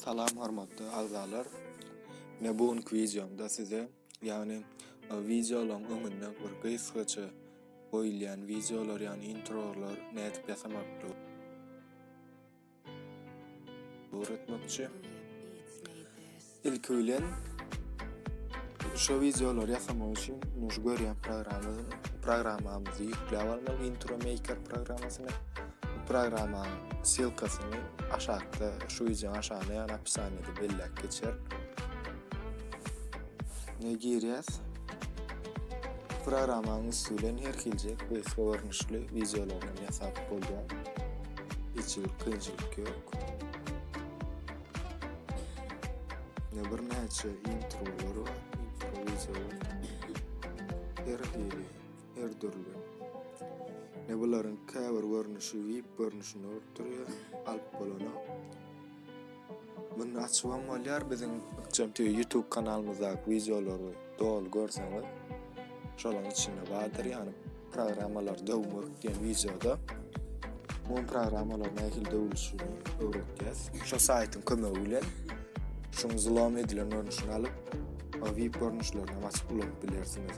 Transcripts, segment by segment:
Salam hormatly agzalar. Men bu günki wideomda size, ýagny wideolaryň öňünde bir gysgaça goýulýan wideolar, ýagny introlar nädip ýasamakdygy öwretmekçi. Ilki bilen şu wideolary ýasamak üçin şu görýän programmamyzy ýükläp almaly, intro maker programmasyny. Programmanyň ssylkasyny aşakda şu wideonyň aşagynda ýagny opisaniýada belläp geçerin. Ne girýäs? Programmanyň üsti bilen her hilje quest görnüşli wideolaryny ýasap bolýar. Hiç bir kynçylyk ýok. Ne bir näçe introlar bar, intro wideolar. Her hili her dürli. Ne bularyň käbir görnüşi VIP görnüşinde bolup durýar, alyp bolana. Muny açyp hem bolýar biziň Ykjam TV YouTube kanalymyzdaky wideolary doly görseňiz. Şolaň içinde bardyr ýani programmalar döwmek diýen wideoda bu programmalar nähili döwülişini öwretýäs. Şu saýtyň kömegi bilen şuň zlom edilen görnüşini alyp, VIP görnüşlerini açyp ulanyp bilersiňiz.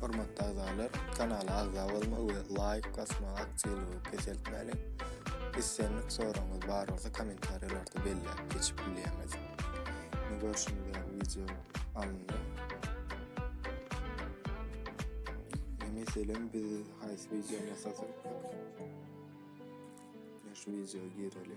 Hormatly agzalar, kanala agza bolmagy we laýk basmagy aktiwlygy peseltmäliň. Islendik soragyňyz bar bolsa kommentariýalarda belläp geçip bilýäňiz. Indi görşüňiz ýaly wideo alyndy. Meselem biz haýsy wideo ýasasak, şu wideo gireli.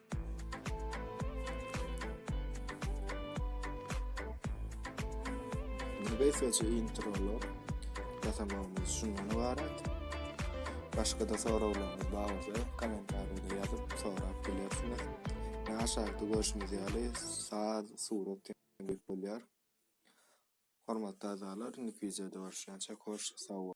Beýsewçe introny ýasamagymyz şundan ybarat. Başga-da soraglaryňyz bar bolsa, kommentariýada ýazyp sorap bilersiňiz. Ýa aşakda görşümiz ýaly saz, surat ýaly bolýar. Hormatly agzalar, indiki wideoda görüşýänçä hoş, sag boluň!